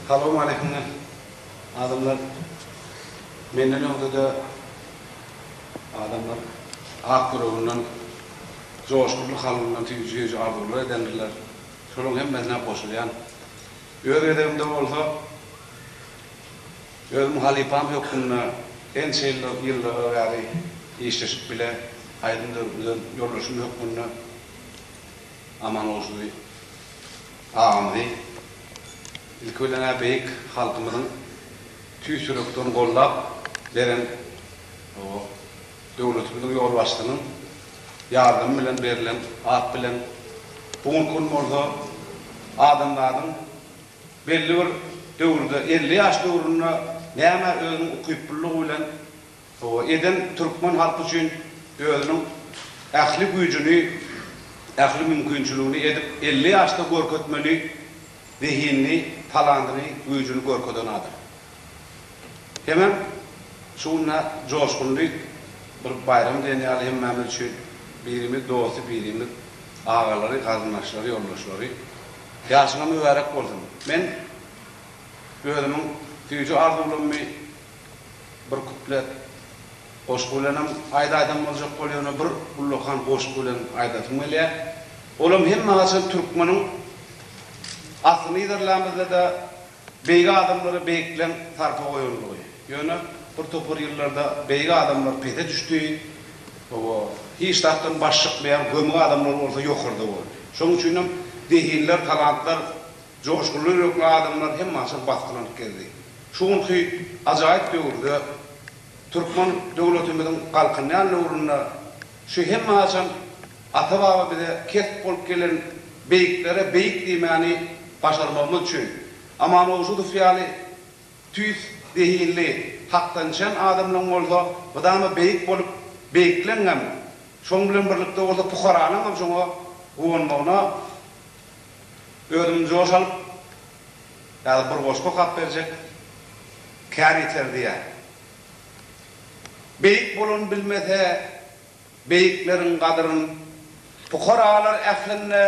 Salowmaleýkim adamlar menden öňde-de adamlar ak ýüreginden joşgunly kalbyndan süýji-süýji arzuwlar edendirler. Şolaryň hemmesine goşulýan. Öz gezegimde bolsa. Özüm halypam hökmünde ençe ýyllara bäri işleşip bile aýdym döredilen ýoldaşym hökmünde Amangulyşly agamyzy ilki bilen-ä beýik halkymyzyň tüýs ýürekden gollap beren döwletimiziň ýolbaşçysynyň ýardamy bilen berlen at bilen bu günki gün bolsa adamzadyň Belli bir döwürde, elli ýaş döwründe näme özüniň ukyplylygy bilen eden türkmen halky üçin özüniň ähli güýjüni, ähli mümkinçiligini edip, elli ýaşda görkezmeli zehinini, talantyny, güýjüni görkezen adam. Hemem şu günde joşgunly bir baýram diýen ýaly hemmämiz üçin birimiz dosty, birimiz agalary, garyndaşlary, ýoldaşlary. Ýaşyňa mübärek bolsun. Men özümiň süýji arzuwlarymy bir kuplet goşgy bilenem aýdaýsam boljak bol ýöne bir ullakan goşgy bilen aýdasym gelýä. Olam hemme haçan türkmeniň aslyny yzarlän bizde de. Beýik adamlara beýikleň sarpa goýanlygy. Ýöne bir topar ýyllarda beýik adamlar pese düşdi, oba, hiç zatdan baş çykmaýan gömük adamlar bolsa ýokarda boldy. Şonuň üçin hem zehinler, talantlar, joşgunly ýürekli adamlar hemmaçyr basgylanyp gezdi. Şu günki ajaýyp döwürde, türkmen döwletimiziň galkynýan döwründe Şu hemme haçan ata-baba bize kesp bolup gelen beýiklere beýik diýmäni başarmagymyz üçin. Amanowjudow ýaly tüýs zehinli, hakdançjan adamlaň bolsa mydama beýik bolup, beýikleňňem, şoň bilen birlikde bolsa pukaralaňňam şoňa guwanmagyna özüm joş alyp, ýa-da bir goşgy okap berjek kär ýeter diýýän. Beýik bolan bilmese beýikleriň gadyryn, Pukaralar ählinde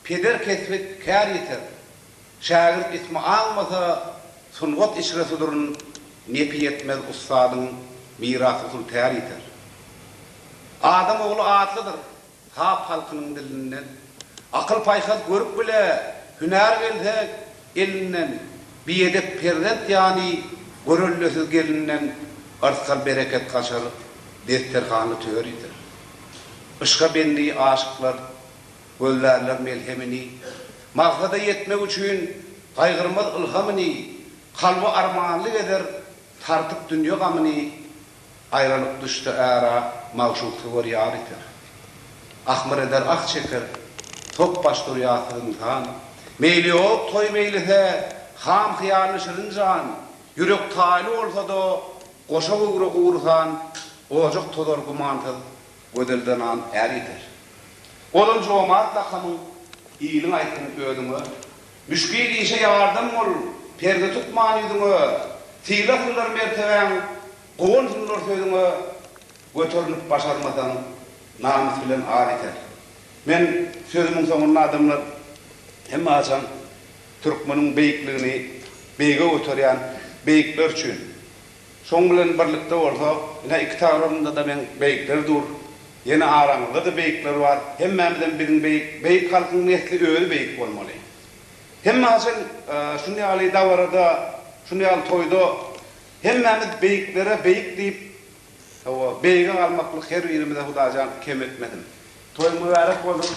peder kesbit kär ýeter. Şägirt ismi aňmasa, sungat içre suduryn, Nepi ýetmez ussadyň, miras-usul tär ýeter. Adam ogly atlydyr, Hap halkynyň dilinden. Akyl-paýhas görüp bile, hünär gelse elinden, Biýedek perzent ýaly görellesiz gelinden Yrsgal-bereket gaçar, desterhany töridir. Yşka bendi aşyklar gözlärler melhemini, Maksada ýetmek üçin gaýgyrmaz ylhamyny, Kalby armanly gezer, tartyp dünýe gamyny, Aýralyk düşse ära, magşuk söwer ýar iter. Ahmyr eder ah çeker, tok baş dur ýasyz ynsan. Meýli ýok toý meýlise, ham hyýaly şirin jan. Ýürek taýly bolsa-da, goşa göwre gurusan. Ojak tozar gumansyz, gözel zenan är ýeter. Ozal jomart lakamyň, iliň aýtsyn özüňe, Müşgil işe ýardam bol, Perde tukman ýüzüňe, Syla hyllar mertebäň, Gowan hyllar sözüňe, Göternip başarmasaň, Namys bilen ar ýeter. Men sözümiň soňunda adamlar hemme haçan türkmeniň beýikligini beýige göterýän beýikler üçin. Şoň bilen birlikde bolsa, ine, iki tarapymda-da meň beýikler dur. Ýene aramyzda-da beýikler bar. Hemmämizem biziň beýik. Beýik halkyň nesli özi beýik bolmaly. Hemme haçan şuny ýaly dabarada, şuny ýaly toýda hemmämiz beýiklere beýik diýip, hawa, beýige galmaklyk her birimize Hudaýjan kem etmesin. Toýuň mübärek bolsun!